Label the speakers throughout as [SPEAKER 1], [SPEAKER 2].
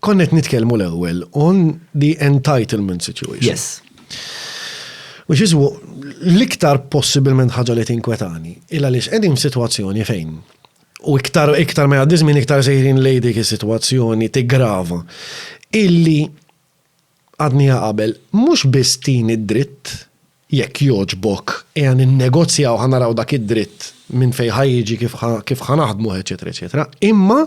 [SPEAKER 1] Konna qed nitkellmu l-ewwel on the entitlement situation. Yes. Which is l-iktar possibilment ħaġa li tinkwetani. Illa li x'qegħdin f'sitwazzjoni fejn u iktar iktar ma jgħaddi żmien iktar sejrin lejdik is-sitwazzjoni tigrava. Illi għadniha qabel, mhux biss tini d-dritt, jekk jogħġbok ejja ninnegozjaw ħa naraw dak id-dritt minn fejn ħa jiġi kif ħa kif ħa naħdmuh eċċetera eċċetera, imma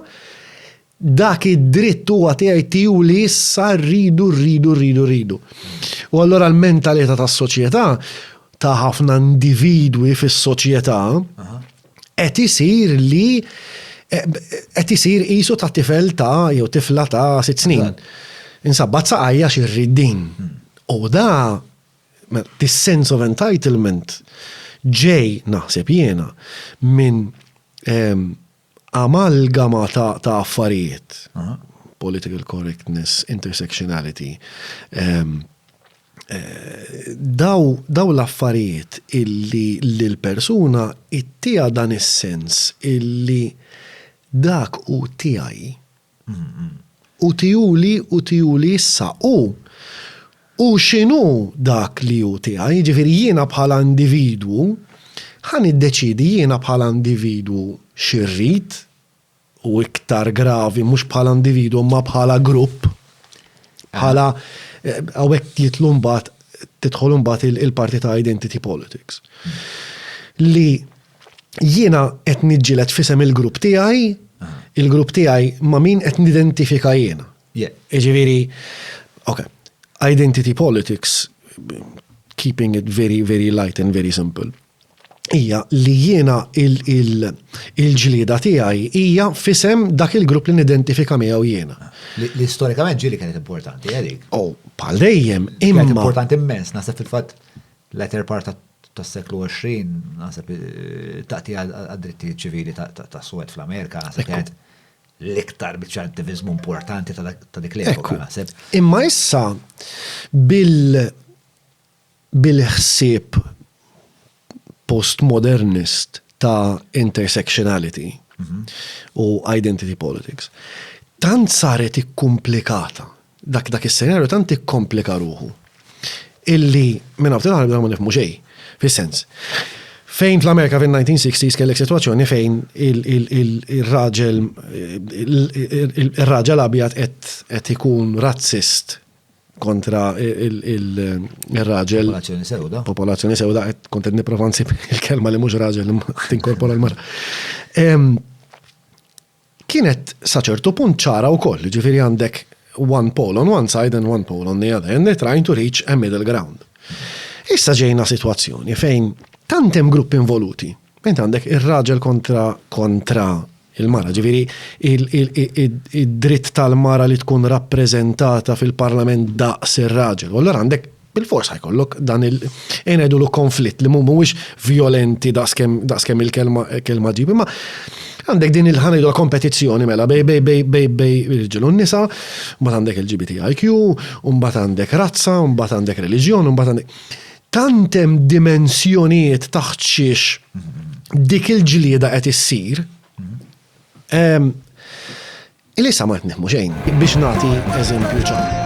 [SPEAKER 1] dak id-dritt huwa tiegħi tiegħu li issa rridu rridu rridu rridu. U allura l-mentalità tas-soċjetà ta' ħafna individwi fis-soċjetà qed isir li qed isir qisu ta' tifel ta' jew tifla ta' sitt snin. Insabbat saqajja xirrid din. Hmm. U da this sense of entitlement ġej naħseb jiena minn ehm, amalgama ta', ta affarijiet. Political correctness, intersectionality, ehm, daw, daw l-affarijiet illi lill-persuna jtiha dan is-sens illi dak hu tiegħi u tihuli u tihuli issa u u x'inhu dak li hu tiegħi, jiġifieri jiena bħala individwu ħa niddeċiedi jiena bħala individwu xi rrid, u iktar gravi, mhux bħala individwu imma bħala grupp, bħala hawnhekk jitlu mbagħad tidħol mbagħad il-parti ta' identity politics. Li jiena qed niġġieled fisem il-grupp tiegħi, il-grupp tiegħi ma' min qed nidentifika jiena. Jiġifieri, ok, identity politics, keeping it very, very light and very simple. hija li jiena il-ġlieda tiegħi hija fisem dak il-grupp li nidentifika miegħu jiena. Li storikament ġieli kienet importanti għalik. Eh, oh, bħal dejjem imma. Kienet importanti immens, naħseb fil-fatt l-eter part tas-seklu 20, naħseb eh, taqti għad-dritti ċivili ta' Suwed fl-Amerika, naħseb kienet l-iktar bieċa attivizmu importanti ta' dik l-epoka, naħseb. Imma issa bil- bil-ħsieb postmodernist ta' intersectionality u identity politics, tant saret ikkumplikata, dak dak is-senarju tant ikkomplika ruħu illi minn hawn ftit aħna bdejna ma nifhmu xejn. Fis-sens, fejn fl-Amerika fin-1960s kellek sitwazzjoni fejn ir-raġel ir-raġel abjad qed qed ikun razzist, kontra il-raġel. Popolazzjoni sewda. Popolazzjoni sewda, kontent niprofa nsib il-kelma li mhux raġel tinkorpora l-mara. Kienet saċertu punt ċara wkoll, ġifieri għandek one pole on one side and one pole on the other, and they're trying to reach a middle ground. Issa ġejna situazzjoni fejn tantem grupp involuti. Int għandek ir-raġel kontra kontra Il-mara, ġifieri id-dritt tal-mara li tkun rappreżentata fil-Parlament daqs ir-raġel. U allura għandek bil-fors ħajkollok dan il-enedu l konflitt li mhuwiex violenti daqskemm il-kelma ġib. Imma għandek din il-ħanejdu kompetizzjoni mela bej bej bej bej bej irġilu nisa, mbagħad għandek il-GBTIQ, mbagħad għandek razza, mbagħad għandek reliġjon, mbagħad għandek. Tant hemm dimensjonijiet taħt xiex dik il-ġlieda qed issir. Ehm, Ilisa ma qed nifhmu xejn biex nagħti eżempju ċar.